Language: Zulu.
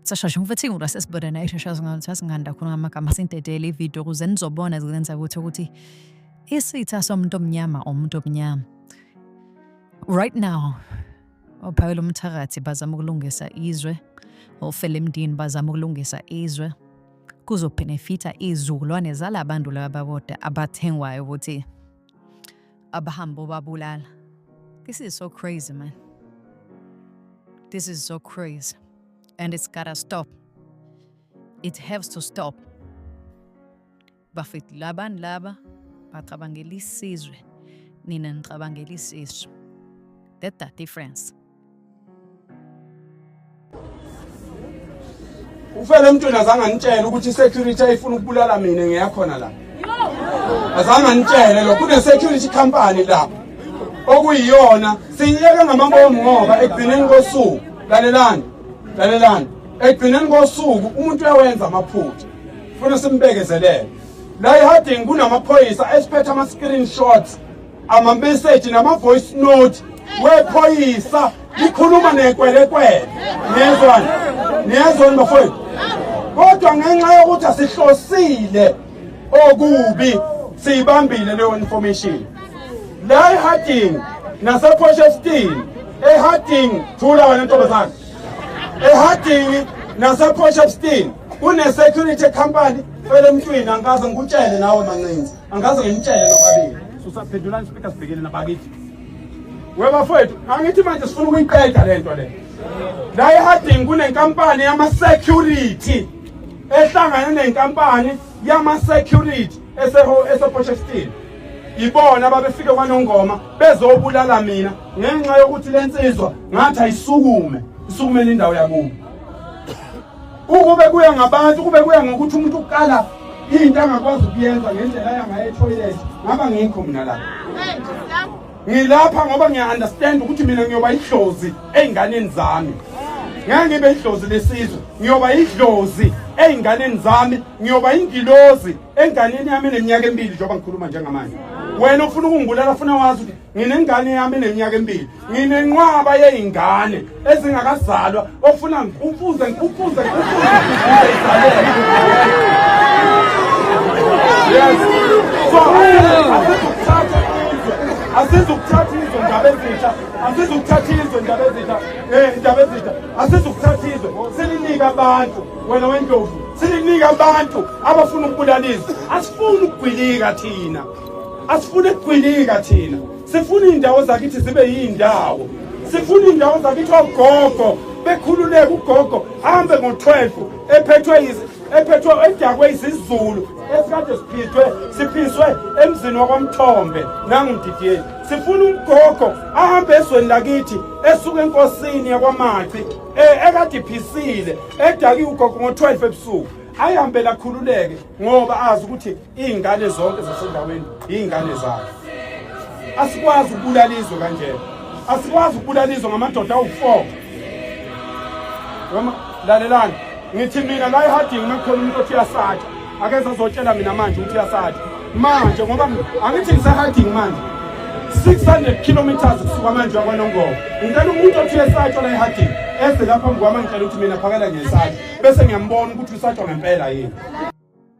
sashasha ngifethe ngula sesibonana eshashaza ngayo sasinganda khona ngamagama sintedele ivideo ukuze nizobona zilenza ukuthi ukuthi isitha somuntu omnyama omuntu omnyama right now Ophawela umthakathi bazama ukulungisa izwe, ofela emdini bazama ukulungisa izwe. Kuzobhenefitha izizukulwane zala bantu laba bakoda abathengwayo ukuthi abahambe obabulala. This is so crazy, man. This is so crazy. And it's gotta stop. It has to stop. bafethu labani laba bacabangela isizwe nina nicabangela isisu that the difference ufele mntwana azange anitshele ukuthi security ayifuna ukubulala mina ngiyakhona la azange anitshele lo kune security company la okuyiyona siyiyeke ngamabomu ngoba ekugcineni kosuku lalelani lalelani ekugcineni kosuku umuntu uyawenza amaphutha funa simbekezelele la eharding kunamaphoyisa esiphethe ama-screenshots amameseji nama-voice note wephoyisa likhuluma nekwelekwele niyezwani niyezwani bafowethu kodwa ngenxa yokuthi asihlosile okubi siyibambile leyo information la eharding nasephosha esitini eharding thula wena ntombazane ehadingi naseport of steam kune-security company fele emntwini angikaze ngikutshele nawe mancinci angikaze ngimtshele nobabili susaphendulani speaker sibhekele nabakithi webafowethu angithi manje sifuna ukuyiqeda le nto le la ehadingi kunenkampani yama-security ehlangane nenkampani yama-security esePortsheston ibona ababefike kwanongoma bezobulala mina ngenxa yokuthi le nsizwa ngathi ayisukume isukumele indawo yakubo ukube kuya ngabantu kube kuya ngokuthi umuntu ukukala into angakwazi ukuyenza ngendlela yangaye etoilet ngaba ngikho mina lapha Ngilapha ngoba ngiya understand ukuthi mina ngiyoba idlozi einganeni zami. Ngeke ngibe idlozi lesizwe, ngiyoba idlozi einganeni zami, ngiyoba ingilozi enganeni yami neminyaka emibili njengoba ngikhuluma njengamanje. Wena ufuna ukungibulala ufuna wazi ukuthi nginengane yami neminyaka emibili. Nginenqwaba yeingane. ezingakazalwa ofuna ngikufuze ngikufuze ngikufuze yes so asizokuthatha asizokuthatha izwe ndaba ezintsha asizokuthatha izwe ndaba ezintsha eh ndaba ezintsha asizokuthatha izwe silinika abantu wena wendlovu silinika abantu abafuna ukubulala izwe asifuni ukugwilika thina asifuni ukugwilika thina Sifuna iy'ndawo zakithi zibe yiy'ndawo sifuna iy'ndawo zakithi ogogo bekhululeke ugogo hambe ngo-12 ephethwe ephethwe edakwe izizulu esikade siphithwe siphiswe emzini wakwamthombe nangididiyeni sifuna umgogo ahambe ezweni lakithi esuke enkosini yakwamaci e, ekade iphisile edakiwe ugogo ngo-12 ebusuku ayihambe lakhululeke ngoba azi ukuthi Iy'ngane zonke zasendaweni iy'ngane zayo. Asikwazi ukubulala izwe kanjena. Asikwazi ukubulala izwe ngamadoda awu-four. Noma lalelani ngithi mina la ehadingi uma kukhona umuntu othi uyasatha akeze azotshela mina manje ukuthi uyasatha manje ngoba angithi ngisehadingi manje 600 kilometers kusuka manje wakwanongoma ngicela umuntu othi uyesatshwa la ehadingi eze lapha mkwama ngicela ukuthi mina phakela ngesatha bese ngiyambona ukuthi usatshwa ngempela yini